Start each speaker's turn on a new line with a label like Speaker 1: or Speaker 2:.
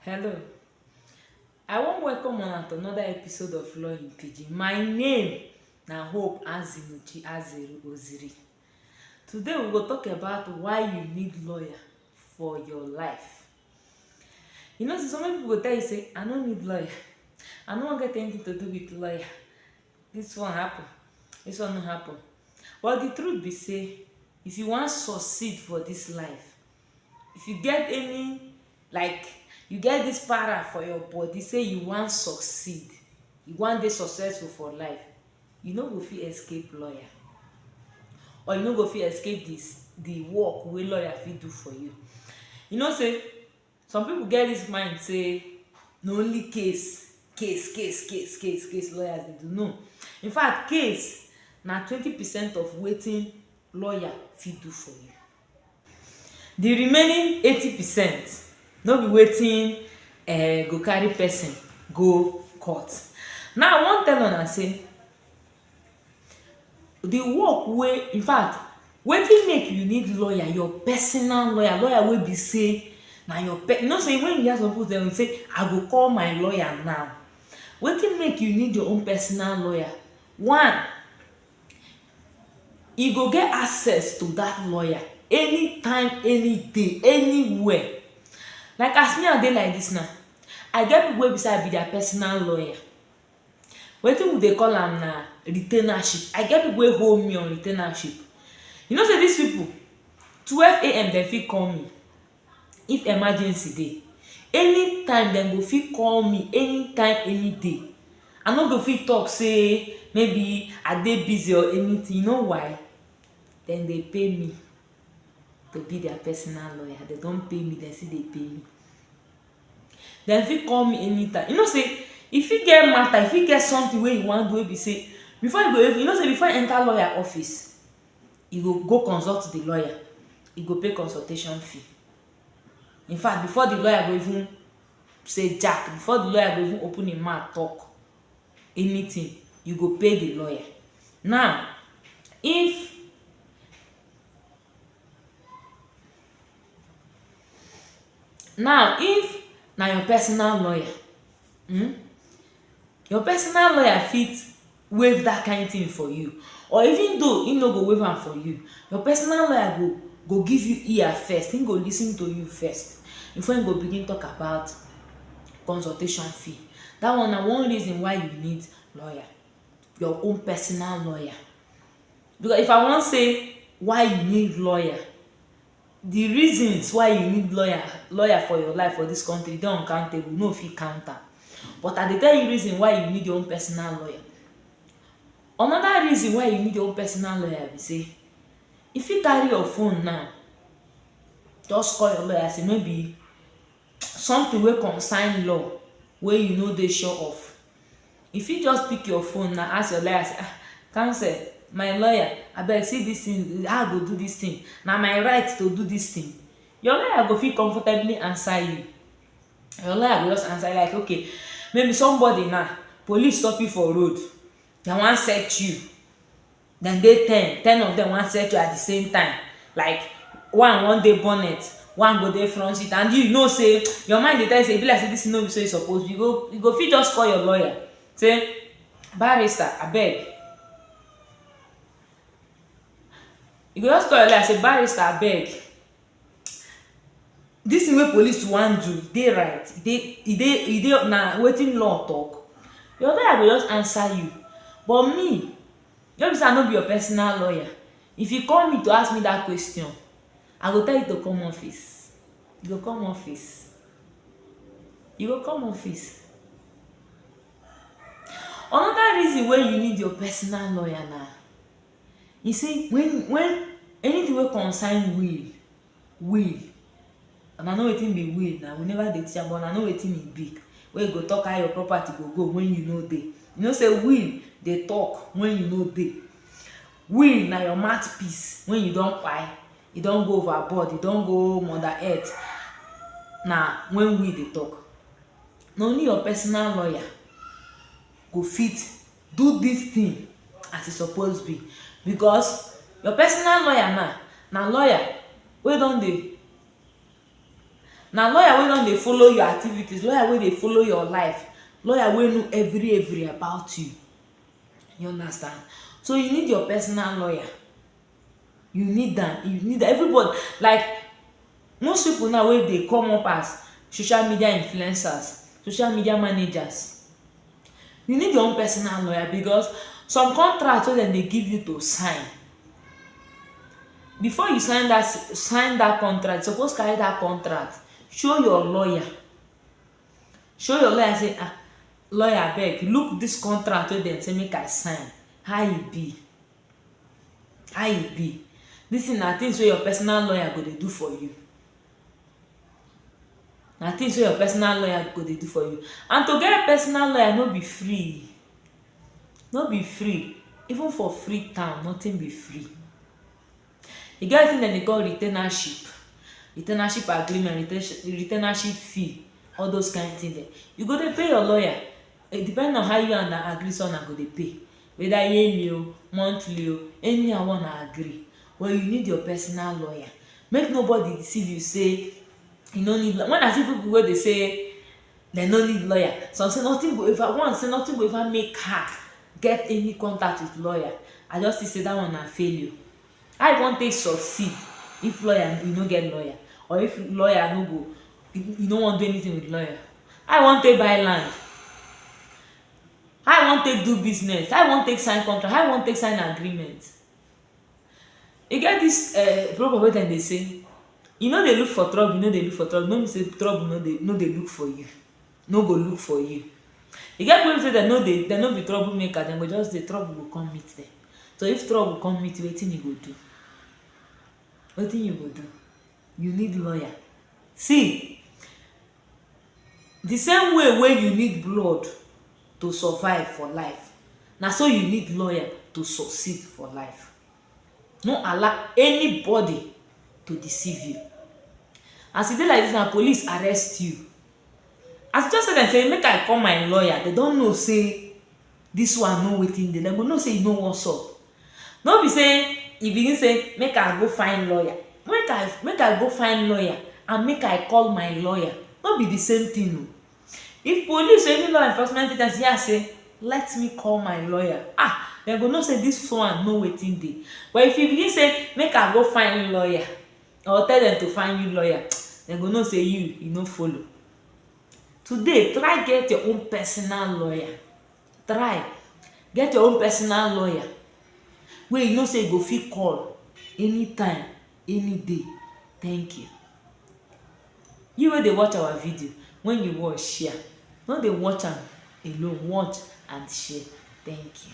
Speaker 1: Hello, I wan welcome una to another episode of Law in Pidgin. My name na Hope Azimuchi Azeru Oziri. Today we go talk about why you need lawyer for your life. You know, so many people go tell you say, I no need lawyer. I no wan get anything to do with lawyer. This one happen, this one no happen. But the truth be say, if you wan succeed for this life, If you get any like you get this para for your body say you wan succeed, you wan dey successful for life, you no go fit escape lawyer or you no go fit escape the the work wey lawyer fit do for you. You know say some people get this mind say na only case, case, case, case, case, case lawyers dey do. No. In fact, case na twenty percent of wetin lawyer fit do for you. Di remaining eighty percent no be wetin um go carry person go court. Now I wan tell una sey di work wey infact wetin make you need lawyer, your personal lawyer, lawyer wey be sey na your pe you know sey wen you hear some pipu tell you sey I go call my lawyer now. Wetin make you need your own personal lawyer? One, e go get access to dat lawyer anytime anyday anywhere like as me I dey like dis now I get people wey be sey I be their personal lawyer wetin we dey call am na retainership I get people wey hold me on retainership you know sey dis people twelve am dem fit call me if emergency dey anytime dem go fit call me anytime any day i no go fit talk say maybe i dey busy or anything you know why dem dey pay me to be their personal lawyer dem don pay me dem still dey pay me dem fit call me anytime you know say e fit get matter e fit get something wey you wan do wey be say before you go even you know say before you enter lawyer office e go go consult di lawyer, e go pay consultation fee. In fact before di lawyer go even say jack, before di lawyer go even open im mouth talk anything, you go pay di lawyer. Now if now if na your personal lawyer, um your personal lawyer fit waive that kind thing for you or even though him no go waive am for you, your personal lawyer go go give you ear first, him go lis ten to you first before him go begin talk about consultation fee. That one na one reason why you need lawyer, your own personal lawyer. Because if I wan say why you need lawyer, Di reasons why you need lawyer lawyer for your life for dis country dey uncountable, we no fit count am. But I dey tell you reason why you need your own personal lawyer. Anoda reason why you need your own personal lawyer be say, you fit carry your phone now, just call your lawyer say maybe something wey concern law wey you no dey sure of. You fit just pick your phone na ask your lawyer say ah counsel my lawyer abeg see this thing how I go do this thing na my right to do this thing your lawyer go fit comfortably answer you your lawyer go just answer you like okay maybe somebody now police stop you for road dem wan search you dem dey ten, ten of dem wan settle at di same time like one wan dey bonnet, one go dey front seat and you know sey your mind dey tell you sey e be like sey dis thing no be so e suppose be, you go you go fit just call your lawyer sey barrister abeg you go just call your lawyer sey barrister abeg Dis tin wey police wan do e dey right? E dey e dey e dey na wetin law tok? Your lawyer go just answer you but me no be sey I no be your personal lawyer if you call me to ask me dat question I go tell you to come office you go come office you go come office Anoda reason wey you need your personal lawyer na e say wen wen anytin wey concern will will and I know wetin be will na we never dey teach am but I know wetin e be wey go talk how your property go go wen you no dey you know say will dey talk wen you no dey will na your mouth piece wen you don kpai e don go over board e don go mother earth na wen will dey talk na only your personal lawyer go fit do this thing as e suppose be because your personal lawyer now na lawyer wey don dey na lawyer wey don dey follow your activities, lawyer wey dey follow your life, lawyer wey know every every about you you understand so you need your personal lawyer you need am you need am everybody like most people now wey dey come up as social media influencers, social media managers you need your own personal lawyer because some contract wey dem dey give you to sign before you sign that sign that contract you suppose carry that contract show your lawyer show your lawyer say um lawyer abeg look this contract wey dem say make I sign how e be How e be? Dis thing na things wey your personal lawyer go dey do for you. Na things wey your personal lawyer go dey do for you. And to get personal lawyer no be free. No be free. Even for Freetown, nothing be free. E get wetin dem dey call retainership, retainership agreement, retainership fee, all those kain thing dem. You go dey pay your lawyer depending on how you and am agree sey una go dey pay. Whether yearly o, monthly o, anyhow wey una agree. But you need your personal lawyer. Make nobody deceive you sey you no need lawyer. When I see pipu wey dey say dem no need lawyer, some say nothing go ever, one say nothing go ever make her get any contact with lawyer, I just see say dat one na failure. How you wan take succeed if lawyer you no get lawyer or if lawyer no go you you no wan do anything with lawyer? How you wan take buy land? How you wan take do business? How you wan take sign contract? How you wan take sign agreement? E get dis um proverb wey dem dey say you no dey look for trouble you no dey look for trouble no mean sey trouble no dey no dey look for you no go look for you e get people wey be sey dem no dey dem no be trouble maker dem go just dey trouble go come meet dem so if trouble come meet you wetin you go do wetin you go do you need lawyer see the same way wey you need blood to survive for life na so you need lawyer to succeed for life no allow anybody to deceive you as e be like this now police arrest you as you just tell them say make I call my lawyer they don't know say This one know wetin dey, dem go know say e no wan sup. No be say e begin say make I go find lawyer, make I make I go find lawyer and make I call my lawyer, no be the same thing o. If police or any law enforcement agents hear say let me call my lawyer, ah, dem go know say this one know wetin dey. But if you begin say make I go find lawyer or tell dem to find you lawyer, dem go know say you you no follow. Today, try get your own personal lawyer, try get your own personal lawyer wey you know sey you go fit call anytime, any day. Thank you. You wey dey watch our video, when you watch, share. No dey watch am alone, watch and share. Thank you.